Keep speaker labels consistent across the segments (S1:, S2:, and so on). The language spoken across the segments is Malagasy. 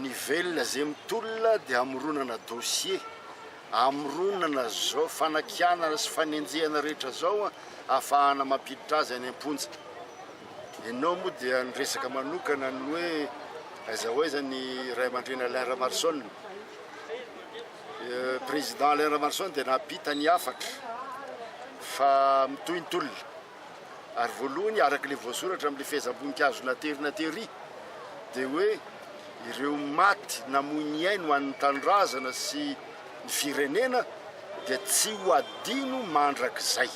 S1: Ny velona izay mitolona dia hamoronana dossier, hamoronana izao fanakianana sy fanenjehana rehetra izao hahafahana mampiditra azy any am-ponja. Ianao moa dia niresaka manokana ny hoe aiza ho aiza ny ray aman-dreny Alain Ramaroson. Président Alain Ramaroson dia nampita ny hafatra fa mitohy ny tolona. Ary voalohany, araka ilay voasoratra amin'ilay fehezam-boninkazo natery na tery, dia hoe ireo maty namoy ny ainy ho an'ny tanindrazana sy ny firenena dia tsy ho adino mandrakizay.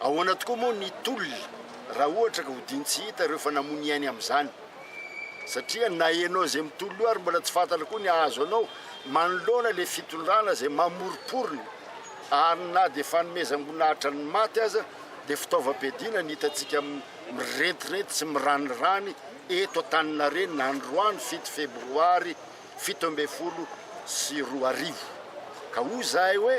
S1: Ahoana tokoa moa ny tolona raha ohatra ka hodino tsy hita ireo efa namoy ny ainy amin'izany? Satria na ianao izay mitolona io ary mbola tsy fantatra koa ny hahazo anao manoloana ilay fitondrana izay mamoromporona Ary na dia fanomezam-boninahitra ny maty aza dia fitaovam-piadiana ny hitantsika mirentirenty sy miranirany eto Antaninarenina androany fito febroary fito ambin'ny folo sy roa arivo. Ka hoy izahay hoe,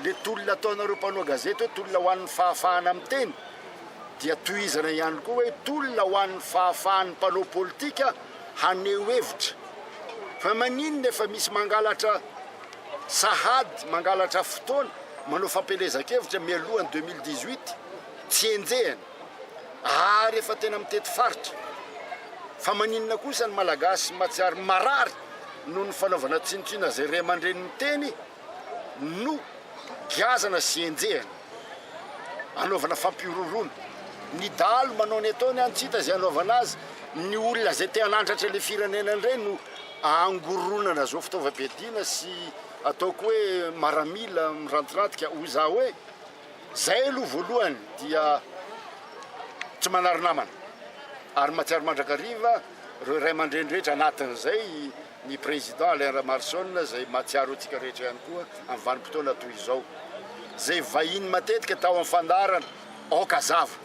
S1: le tolona ataonareo mpanao gazety hoe tolona ho an'ny fahafahana miteny dia tohizana ihany koa hoe tolona ho an'ny fahafahan'ny mpanao politika haneho hevitra. Fa maninona efa misy mangalatra? Sahady mangalatra fotoana manao fampielezan-kevitra mialohan'ny 2018 tsy enjehina ary efa tena mitety faritra. Fa maninona kosa ny Malagasy mahatsiaro marary noho ny fanaovana tsinontsinona izay ray aman-dreny miteny no giazana sy enjehina anaovana fampihorohoroana. Ny dahalo manao ny ataony any tsy hita izay anaovana azy, ny olona izay te hanandratra ilay firenena indray no Angoronana izao fitaovam-piadiana sy ataoko hoe maramila mirantiratika hoy za hoe zay aloha voalohany dia tsy manary namana ary matsiaro mandrakariva reo ray aman-dreny rehetra anatin'izay ny président Alain Ramaroson zay matsiaro antsika rehetra ihany koa amin'ny vanim-potoana toy izao zay vahiny matetika tao amin'ny fandaharana aoka zava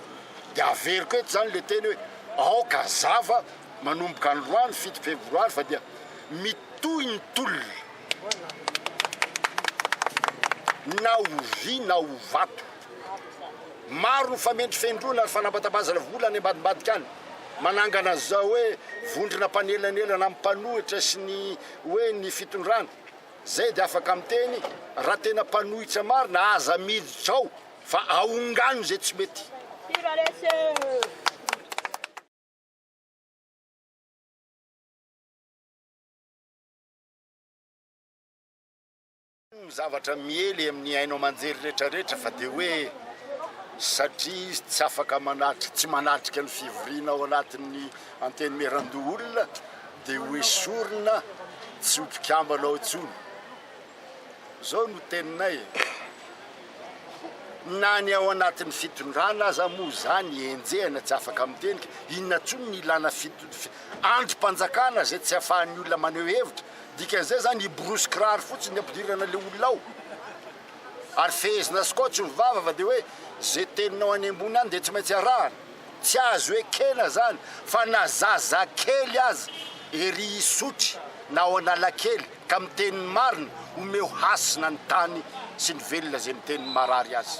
S1: dia averiko eto zany le teny hoe aoka zava Manomboka androany fito febroary fa dia mitohy ny tolona na ho vy na ho vato. Maro ny famendrofendroana ary fanabatabazana vola any ambadimbadika any, manangana an'izao hoe vondrona mpanelanelana amin'ny mpanohitra sy ny hoe ny fitondrana. Izay dia afaka miteny, raha tena mpanohitra marina aza miditra ao fa aongano izay tsy mety. zavatra miely amin'ny haino aman-jery rehetrarehetra fa dia hoe satria izy tsy afaka manatrika tsy manatrika ny fivoriana ao anatin'ny antenimierandoholona dia hoesorina tsy ho mpikambana ao intsony zao no teninay e, na ny ao anatin'ny fitondrana aza moa izany enjehina tsy afaka miteny ka inona intsony ny ilana andrim-panjakana izay tsy afahan'ny olona maneho hevitra, dikan'izay izany hiborosy kiraro fotsiny ny hampidirana ilay olona ao ary fehezina skotsy ny vava fa dia hoe izay teninao any ambony any dia tsy maintsy arahana, tsy azo ekena izany fa na zazakely aza ery Isotry na ao Analakely Ka miteny ny marina, omeo hasina ny tany sy ny velona izay miteny ny marary azy.